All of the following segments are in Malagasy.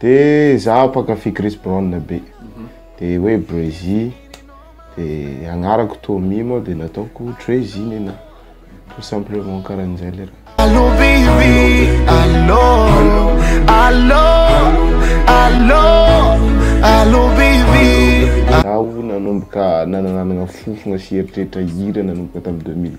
De zaho mpankafy Chris Brown be de hoe Breezy de agnarako Tommy moa de nataoko Trezy Nina tout simplement karan'izay le raha. Allô baby allô allô allô allô baby Zaho nanomboka nanananagna fofogna sy eritreritra hira nanomboka tamin'ny deux mille.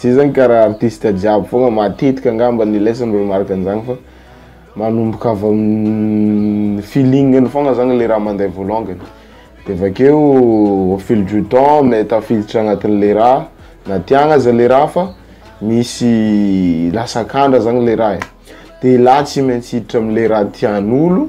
Zay zany karaha artiste jiaby fogna matetika angamba ny leso ny remarque an'izany fa manomboka avy amin'ny feeling-ny fogna zany le raha mandeha voalongany de avy akeo au fil du temps me- tafiditra agnatin'le raha na tiagna aza le raha fa misy lasa akandra zany le raha e, de i lahy tsy maintsy hiditra am'le raha tian'olo.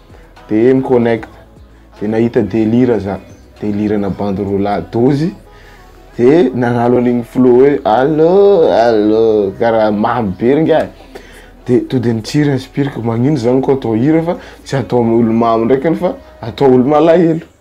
de mi connect de nahita delira za delira na bandy roa lahy dozy de nanalo an'igny flow hoe allo allo karaha mamy be r'ingahy de to de nitsiry inspireko magnino zany ko atao hira fa tsy atao olo mamy ndraiky anie fa atao olo malahelo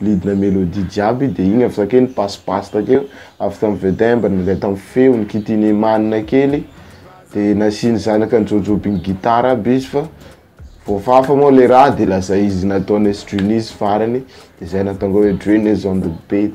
Lidina melodie jiaby de igny avy zao kely basse basse takeo avy tam vedin mba nandray tam feony kitihiny emanina kely de nasiany zanaka ny jojo by ny guitare aby izy fa voafafa moa le raha de lasa izy nataony s-dreunies farany de zay natonga hoe dreunies on the beat.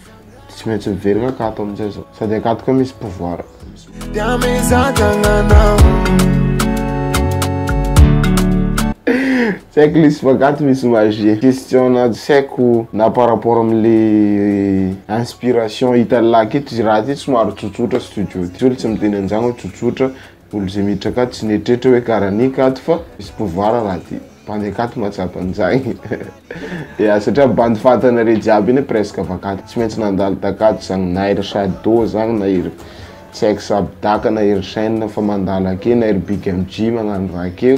Tsy maintsy miverina akato amin'izay zao. Sady akato koa misy pouvoir. Dia mizantananao. Tsy haiko le sipakato misy magie. Question na tsy haiko na par rapport amin'le inspiration hitan'ny lahy aketo izy raha aty somary tsotsotra studio ty. Tsy miteny an'izany hoe tsotsotra Olo zay miditra akato tsy neritreritry oe karany akato fa misy pouvoir raha ty bandy akato mahatsapa anzagny ya satria bandy fatana rey jiaby iny presque avy akato tsy maintsy nandalo takato zagny na ery shado zagny na ery tsy aiko sabdaka na ery chaine fa mandalo akeo na ery big mg magnano raha akeo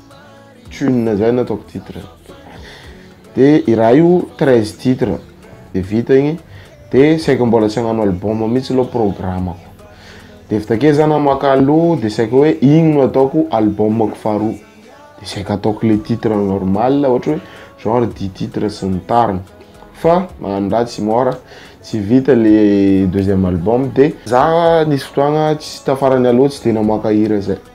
tune zay nataoko titre de i raha io 13 titre de vita igny de saika mbola tsy hagnano album mihitsy aloha programako de vita ke za namaka aloha de saika hoe igny no ataoko albumako faharoa de saika ataoko le titre normal ohatra hoe genre dix titre sy ny tariny fa magnano raha tsy mora tsy vita le deuxième album de za nisy fotoagna tsy tafarany aloha tsy de namoaka hira zay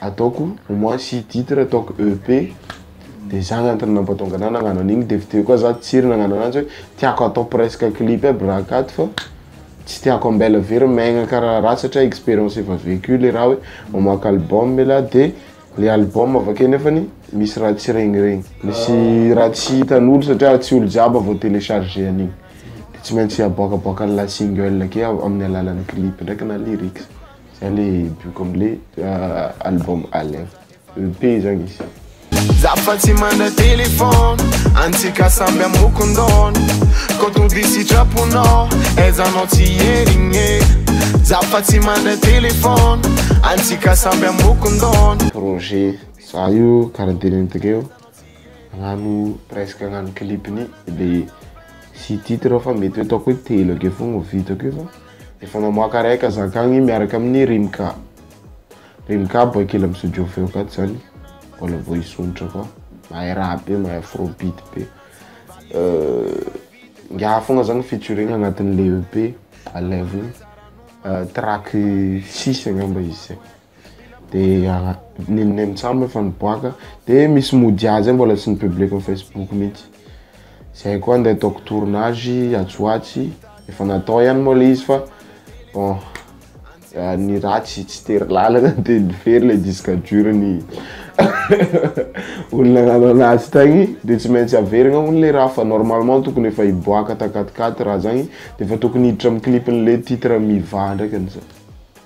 ataoko au moins six titres ataoko EP de zany antony nampatonga anah nagnano an'igny de avy teo koa zah tsiry nagnano ananjy hoe tiako atao presque clip aby raha akato fa tsy tiako ambela very maigna karaha raha satria expérience efa vécu le raha hoe mamoaka album elah de le album avy akeo nefany misy raha tsy regniregny misy raha tsy hitan'olo satria tsy olo jiaby vao télécharger an'igny de tsy maintsy aboakaboaka an'la single akeo amin'ny alalan'ny clip ndraiky na lyrics. Zay le bioka amle ah, album Alem EP zany izy Za fa tsy mana téléphone Antsika samby amokon-daona Quand on dit sitraponao Aizanao tsy hierigné Za fa tsy mana téléphone Antsika samby amokon-daona Projet Za io karaha dimy minutes eo Agnano presque agnano clip-ny le sy titre fa mety hoe ataoko hoe telo akeo fogna ho vitako io fa Efa mamoaka ray ka zakagny miaraka amin'ny Rimka. Rimka boay kely amin'ny studio feo akato zany. Mbola vao hisondrotra koa. Mahay rap be, mahay afrobeat be. Ingahy fogna zany featuring agnatin'ilay EP aleviny. Track six angamba izy zay. dia ah, ninone mitsam efa niboaka dia misy mody azy mbola tsy ny public ny facebook mihitsy zay koa ndeha ataoko tournage atsy ho atsy efa natao ihany moa le izy fa bon ah, ny ratsy tsy tery lalana dia ny very le disque dur ny olona nanana azy tagny dia tsy maintsy averina hono le raha fa normalement tokony efa hiboaka takatikaty raha zagny dia efa tokony hiditra amin'ny clip-n'le titre mivaha ndraika ny zany